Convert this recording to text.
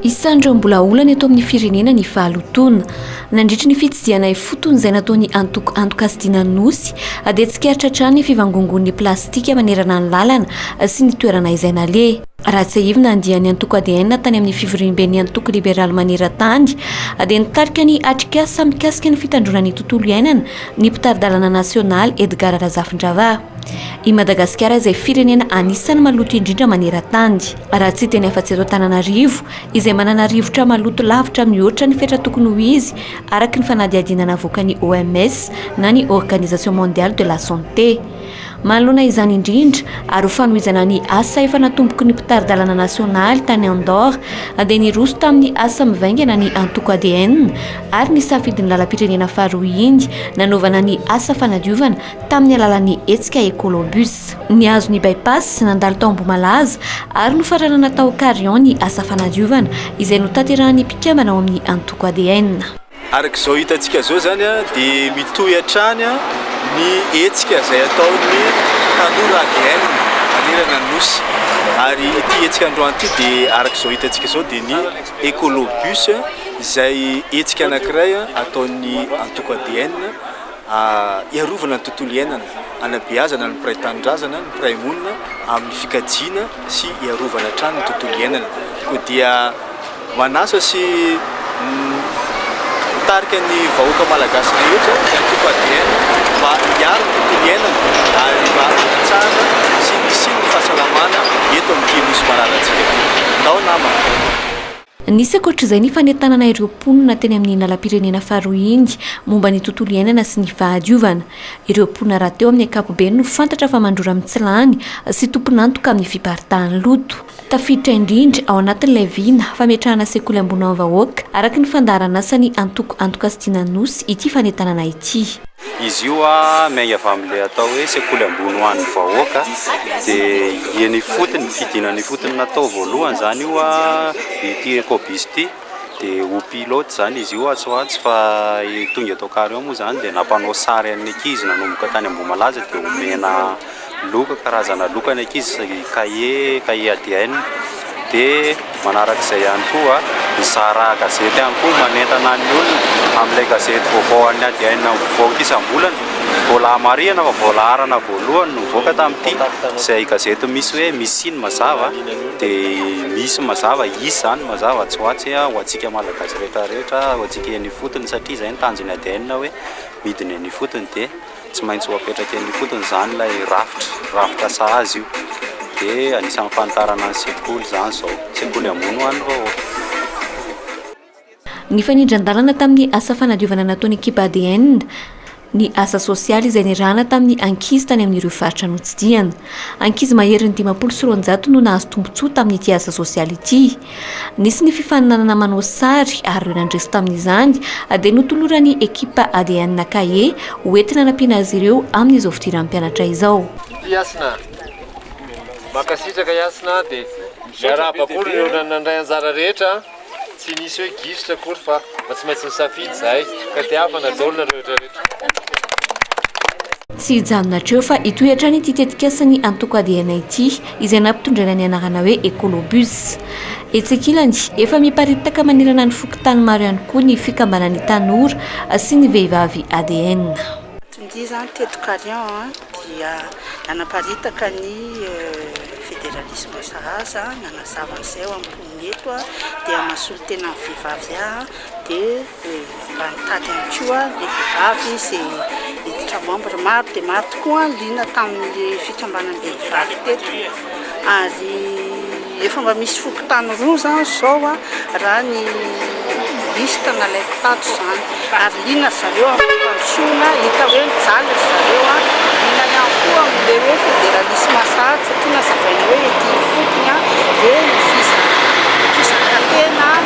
Isan'ireo mbola olana eto amin'ny firenena ny fahalotoana. Nandritry ny fitsidihana ifotony izay nataon'ny antoko Antokasidiana Nosy dia tsikaritra hatrany ny fivangongoan'ny plastika manerana ny lalana sy ny toerana izay naleha. Raha tsiahivina andian'ny antoko ADN tany amin'ny fivoriamben'ny antoko liberaly maneran-tany dia nitarika ny atrikasa mikasika ny fitandroana ny tontolo iainana ny mpitari-dalana nasionaly Edgard Razafindravaha. I Madagasikara izay firenena anisan'ny maloto indrindra maneran-tany. Raha tsy hiteny afa-tsy eto Antananarivo, izay manana rivotra maloto lavitra mihoatra ny fetra tokony ho izy, araka ny fanadihadiana navoakan'ny OMS na ny Organisation Mondiale de la Santé. Manoloana izany indrindra, ary ho fanohizana ny asa efa natomboky ny mpitari-dalana nasionaly tany Andorre, dia niroso tamin'ny asa mivaingana ny antoko adn ary ny safidin'ny lalam-pirenena faharoa iny nanaovana ny asa fanadiovana tamin'ny alalan'ny hetsika Ecolobus. Nihazo ny By-pass sy nandalo tao Ambohimalaza ary nofaranana tao Carion ny asa fanadiovana izay notaterahan'ny mpikambana ao amin'ny antoko ADN. Araka izao hitantsika izao izany dia mitohy hatrany ny hetsika izay ataon'ny tanora ADN manerana ny Nosy ary ity hetsika androany ity dia araka izao hitantsika izao dia ny Ecolobus izay hetsika anankiray ataon'ny antoko ADN Hiarovana ny tontolo iainana, hanabeazana ny mpiray tanindrazana, ny mpiray monina amin'ny fikajiana sy hiarovana hatrany ny tontolo iainana. Koa dia manasa sy mitarika ny vahoaka malagasy rehetra, ny antoko adn, mba hiaro ny tontolo iainana ary mba hanatsara sy hisian'ny fahasalamana eto amin'ity Nosy malalantsika ity. Ndao namana! Nisy ankoatra izay ny fanentanana ireo mponina teny amin'ny lalam-pirenena faharoa iny momba ny tontolo iainana sy ny fahadiovana. Ireo mponina rahateo amin'ny ankapobeny no fantatra fa mandrora mitsilany sy tompon'antoka amin'ny fiparitahan'ny loto. Tafiditra indrindra ao anatin'ilay vina fametrahana sekoly ambony ho an'ny vahoaka, araka ny fandaharan'asan'ny antoko Antoka Stina Anosy ity fanentanana ity. Izy io miainga avy amin'ilay atao hoe sekoly ambony ho an'ny vahoaka dia eny ifotony, fidinana ifotony natao voalohany izany io ity Ecobus ity dia ho pilote izany izy io atsy ho atsy fa tonga eto Kary ao moa izany dia nampanao sary an'ny ankizy nanomboka tany Ambohimalaza dia omena Loka, karazana loka ny ankizy, kahie, kahie ADN, dia manaraka izay ihany koa ny zara gazety ihany koa manentana ny olona amin'ilay gazety vaovao an'ny ADN mivoaka isam-bolana, voalaha marihana fa voalaharana voalohany no nivoaka tamin'ity izay gazety misy hoe misy siny mazava dia misy mazava hisy izany mazava tsy ho atsy ho antsika malagasy rehetra rehetra ho antsika eny ifotony satria izay ny tanjon'ny ADN hoe midina eny ifotony dia Tsy maintsy ho apetraka eny am-potony izany ilay rafitra, rafitra sahaza io. Dia anisan'ny fanitarana ny sekoly izany izao, sekoly ambony ho an'ny vahoaka. Nifanindran-dalana tamin'ny asa fanadiovana nataon'ny ekipa adn ny asa sosialy izay nirahana tamin'ny ankizy tany amin'ireo faritra notsidihana. Ankizy maherin'ny dimampolo sy roanjato no nahazo tombontsoa tamin'ity asa sosialy ity. Nisy ny fifaninanana manao sary ary ireo nandresy tamin'izany dia notoloran'ny ekipa ADN kahie ho entina anampiana azy ireo amin'izao fidiran'ny mpianatra izao. Ity Hasina. Mankasitraka Hasina dia miarahaba koa ireo nandray anjara rehetra, tsy nisy hoe gisitra akory fa mba tsy maintsy nisafidy izahay ka dia havana daholo nareo rehetra rehetra. Tsy hijanona hatreo fa hitohy hatrany ity tetikasan'ny antoko ADN ity. izay nampitondraina ny anarana hoe Ecolobus. Etsy ankilany, efa miparitaka manerana ny fokontany maro ihany koa ny fikambanan'ny tanora sy ny vehivavy ADN. Tondia izany teto Carion dia nanaparitaka ny federalisma sahaza nanazava ny seho ampon'ny eto dia mahasolo tena ny vehivavy dia Mba nitady ihany koa ny vehivavy izay hiditra membre. Maro dia maro tokoa ny liana tamin'ny fikambanam-behivavy teto ary efa mba misy fokontany roa izany izao raha ny liste nalaiko tato izany ary liana ry zareo amin'ny fampandrosoana, hita hoe mijaly ry zareo, liana ihany koa amin'ilay hoe federalisme sahady satria nazavaina hoe ety ifotony dia ny fisaraka-tena.